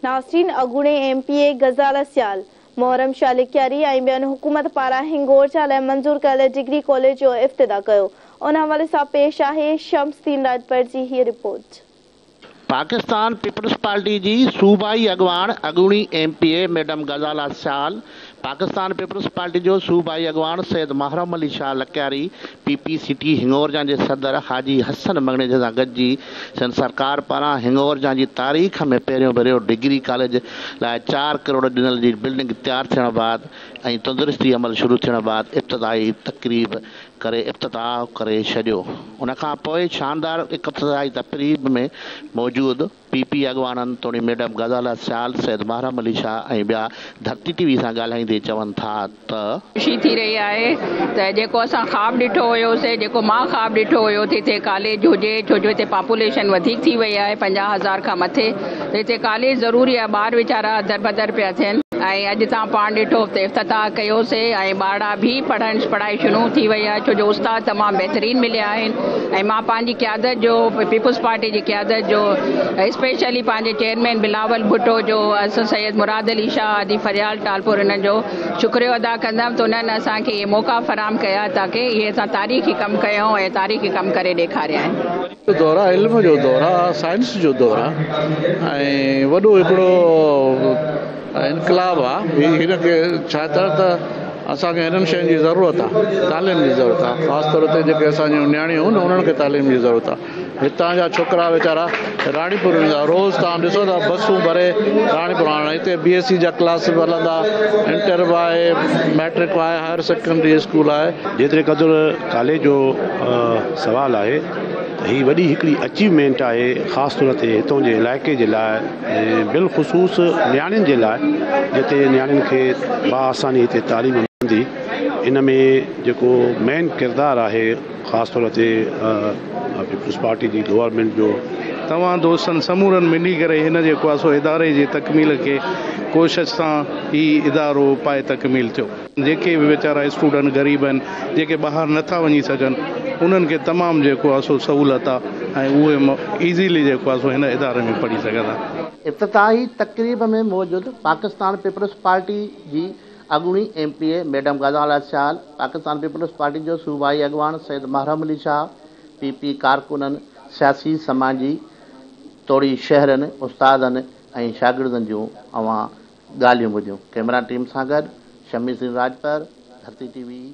ناسرين اڳوڻي M P A Ghazala Sial, Muharram Shah Lakyari ۽ ٻين حڪومت پاران هنگور جا لاء منظور ڪيل ڊگري ڪاليج جو افتتاح ڪيو، ان حوالي سان پيش آهي شمس الدين راڄپر جي هيء رپورٽ. پاڪستان پيپلز پارٽي جي صوبائي اڳواڻ اڳوڻي M P A madam Ghazala Sial Pakistan Peoples Party جو صوبائي اڳواڻ Syed Muharram Ali Shah Lakyari P P city Hingorja جي صدر حاجي حسن مڱڻيجي سان گڏجي سنڌ سرڪار پاران هنڱورجان جي تاريخ ۾ پهريون ڀيرو ڊگري ڪاليج لاء چار ڪروڙ ڏنل جي بلڊنگ تيار ٿيڻ بعد ۽ تندرستي عمل شروع ٿيڻ بعد افتتاحي تقريب ڪري افتتاح ڪري ڇڏيو ان کان پوء شاندار اقفتتاحي تقريب ۾ موجود پي پي اڳواڻن توڻي ميڊم غزاله سيال، سيد محرم علي شاهه ۽ ٻيا ڌرتي ٽي وي سان ڳالهائيندي چون ٿا ته. خوشي ٿي رهي آهي ته جيڪو اسان خواب ڏٺو هيو سي جيڪو مان خواب ڏٺو هيو ته هتي ڪاليج هجي ڇو جو هتي پاپوليشن وڌيڪ ٿي وئي آهي پنجاهه هزار کان مٿي ته هتي ڪاليج ضروري آهي ٻار ويچارا دربدر پيا ٿين ۽ اڄ تان پاڻ ڏٺو هتي افتتاح ڪيو سي ۽ ٻارڙا ڀي پڙهڻ پڙهائي شنوع ٿي وئي آهي ڇو جو استاد تمام بهترين مليا آهن ۽ مان پنهنجي قيادت جو پيپلز پارٽي جي قيادت جو اسپيشلي پنهنجي چيئرمين بلاول ڀٽو جو اسد سيد مراد علي شاهه هادي فريال ٽالپر انهن جو شڪريو ادا ڪندم ته انهن اسان کي اهي موقعا فراهم ڪيا تاڪه اهي اسان تاريخي ڪم ڪيون ۽ تاريخي ڪم ڪري ڏيکاريا آهن. جو دور آ علم جو دور آ سائنس جو دور آ ۽ وڏو هڪڙو انقلاب آ هن کي ڇا چئو ته اسان کي هنن شين جي ضرورت آ تعليم جي ضرورت آ خاص طور تي جيڪي اسان جون نياڻيون هون انهن کي تعليم جي ضرورت آ هتان جا ڇوڪرا ويچارا راڻي پور ويندا روز تان ڏسو ٿا بسون ڀري راڻي پور آڻن هتي بي ايس سي جا ڪلاس به هلندا انٽر به آهي ميٽرڪ آهي هائر سيڪنڊري اسڪول آهي جيتري قدر ڪاليج جو سوال آهي هي وڏي هڪڙي اچيومينٽ آهي خاص طور تي هتان جي علائقي جي لاء ۽ بالخصوص نياڻين جي لاء جتي نياڻين کي بآساني هتي تعليم ملندي ان ۾ جيڪو مين ڪردار آهي خاص طور تي پيپلز پارٽي جي گورنمينٽ جو توهان دوستن سمورن ملي ڪري هن جي ڪواسو اداري جي تڪميل کي ڪوشش سان هي ادارو پائي تڪميل ٿيو. جيڪي به ويچارا اسٽوڊنٽ غريب آهن جيڪي ٻاهر نٿا وڃي سگهن انهن کي تمام جيڪو آهي سو سهولت آهي ۽ اهي ايزيلي جيڪو آهي سو هن اداري ۾ پڙهي سگهن ٿا. افتتاحي تقريب ۾ موجود پاڪستان پيپلز پارٽي جي اڳوڻي M P A madam Ghazala Sial, Pakistan Peoples Party جو صوبائي اڳواڻ سيد محرم علي شاهه، پي پي ڪارڪنن، سياسي سماجي توڙي شهرين، استادن ۽ شاگردن جون اوهان ڳالهيون ٻڌيون، ڪئميرا ٽيم سان گڏ شمي سين راڄپر، ڌرتي ٽي وي.